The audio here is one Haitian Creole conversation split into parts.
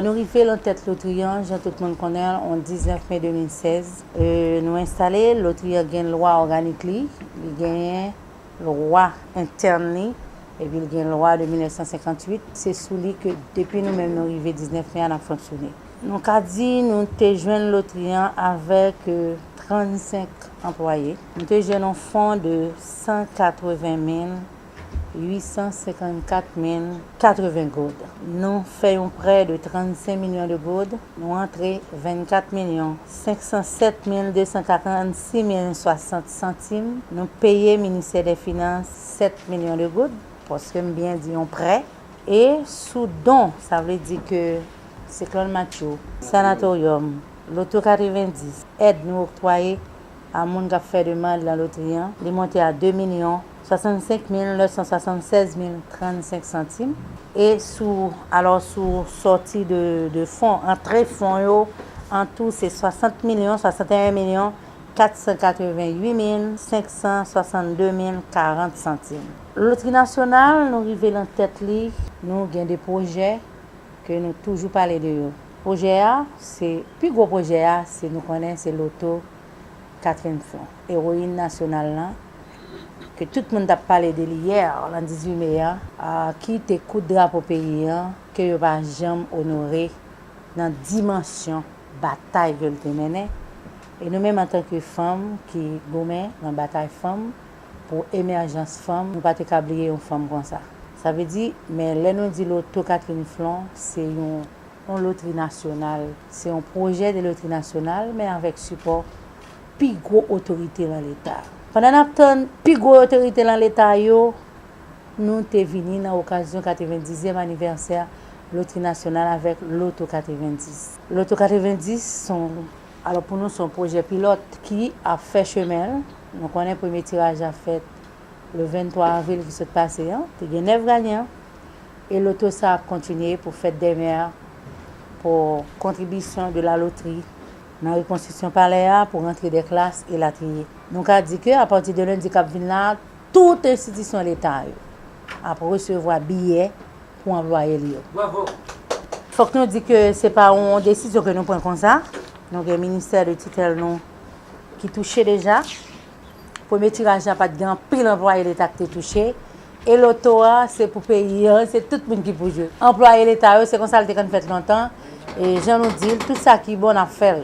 Nou rive lan tèt lotri an, jan tout moun konnen l, on 19 me 2016. Nou enstale, lotri an gen lwa òganik li, li genyen lwa entèn li epi l gen lwa de 1958, se sou li ke depi nou menm nou rive 19 me a n ap fonksyone. Nou ka di nou te jwenn lotri an avèk 35 anplwaye. Nou te jwenn yon fon de 180854,080 goud. Nou fè yon prè de 35 milyon de goud, nou antre 24 milyon 507 mil 246 mil 60 santim nou peye ministè dè finans 7 milyon de goud paske m byen di yon prè e sou don sa vle di ke siklòn matthew sanatoryòm loto 90 èd nou oktwaye a moun k ap fè demand lan lotri an li monte a 2 milyon 65 mil 976 mil 35 santim e sou alò sou sòti de fon antre fon yo antou se 60 milyon 61 milyon 488562 min 40 santim. Lotri nasyonal nou rive nan tèt li nou gen 2 pwojè ke nou toujou pale de yo pwojè a se pi gwo pwojè a se nou konnen se loto Catherine Flon eroyin nasyonal lan ke tout moun tap pale de li yè lan 18 me an ki te koud drapo peyi an ke yo pa janm onore nan dimansyon batay ke l te mennen, e nou menm antanke fanm ki goumen nan batay fanm pou emèjans fanm, nou pa te ka bliye yon fanm konsa. Sa vle di, men lè nou di loto Catherine Flon, se yon lotri nasyonal, se yon pwojè de lotri nasyonal, men avèk sipò pi gwo otorite lan Leta. Pandan n ap tann pi gwo otorite lan Leta yo, nou te vini nan okazyon 90 zyèm anivèsè Lotri Nasyonal avèk Loto 90. Loto 90 s on, alò pou nou s on pwojè pilòt ki ap fè chemen l. Nou konnen premye tiraj la fèt le 23 avril ki sot pase an, te gen 9 ganyan e loto sa ap kontinye pou fèt demè a pou kontribisyon de la lotri nan rekonstriksyon palè a, pou rantre dè klas, elatriye. Nou ka di ke apati de lendi k ap vin la a, tout enstitisyon leta yo ap resevwa biyè. pou anplwaye li yo. Fòk nou di ke se pa yon desizyon ke nou pran konsa, nou gen ministè de titèl nou ki touche deja. Premye tiraj la pat gen anpil anplwaye leta ki te touche, e loto a se pou peyi an, se tout moun ki pou jwe. Anplwaye leta yo se konsa li te konn fèt lontan, e jan nou di l, tout sa ki bon nap fè l.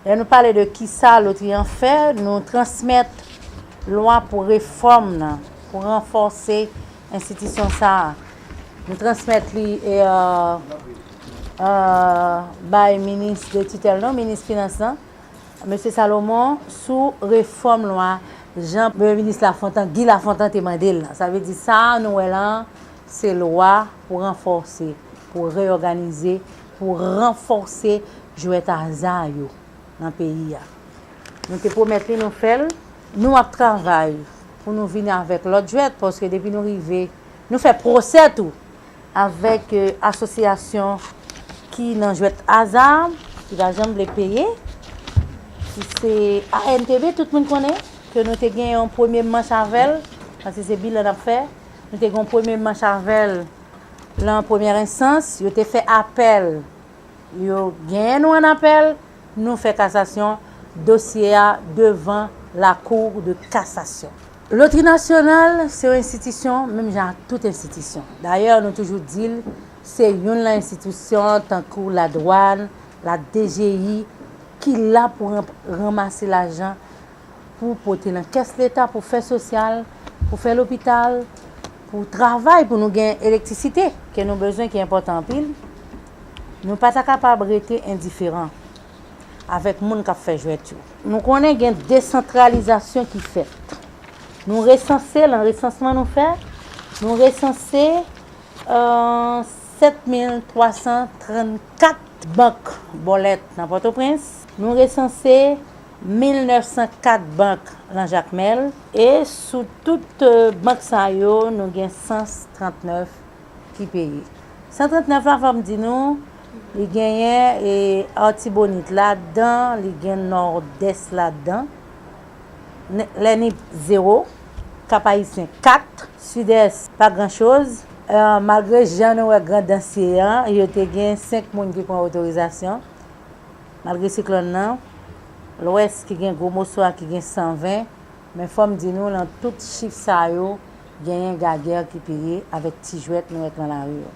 Lè nou pale de kisa lotri an fè, nou transmèt lwa pou refòm nan, pou ranfòse Enstitisyon sa a, m transmèt li bay minis de titèl nou, minis finans lan, mesye Salomon, sou refòm lwa jan premye minis Lafontan, Guy Lafontan te mande l lan. Sa vle di sa a nou wè la a, se lwa pou ranfòse, pou reyòganize, pou ranfòse jwèt aza yo. nan peyi a. Nou te pwomèt li nou fè l. Nou ap travay pou nou vini avèk lòt jwèt paske depi nou rive, nou fè pwosè tou avèk asosyasyon ki nan jwèt aza ki pa janm vle peye ki se ANTB tout moun konnen ke nou te gen yon premye manch avè l paske se bilan n ap fè. Nou te gen yon premye manch avè l lan premyè ensans. Yo te fè apèl Yo genyen nou an apèl, nou fè kasasyon, dosye a devan la kou de kasasyon. Lotri nasyonal se yon enstitisyon menm jan ak tout enstitisyon. Dayè nou toujou di l se youn lan enstitisyon tankou la dwann, la dgi ki la pou ranmase lajan pou pote nan kès leta pou fè sosyal, pou fè lopital, pou travay pou nou gen elektrisite ke nou bezwen ki enpòtan anpil, nou pa ta kapab rete endiferan avèk moun k ap fè jwèt yo. Nou konnen gen desantralizasyon ki fèt. Nou resanse lan resansman nou fè, nou resanse 7,334 bank bòlèt nan Pòtoprens, nou resanse. 1904 bank lan Jakmèl e sou tout bank sa yo nou gen 139 ki peye. 139 la fò m di nou li genyen Artibonite ladan, li gen Nòdès ladan, lè Nip 0, Kap Ayisyen 4, Sidès pa gran choz, malgre jan nou wè Grandans ye an, yo te gen 5 moun ki pran otorizasyon. Malgre siklòn nan, Lwès ki gen gwo moso a ki gen 120, men fòm di nou lan tout chif sa yo genyen gager ki peye avèk ti jwèt nou wèk lan lari yo.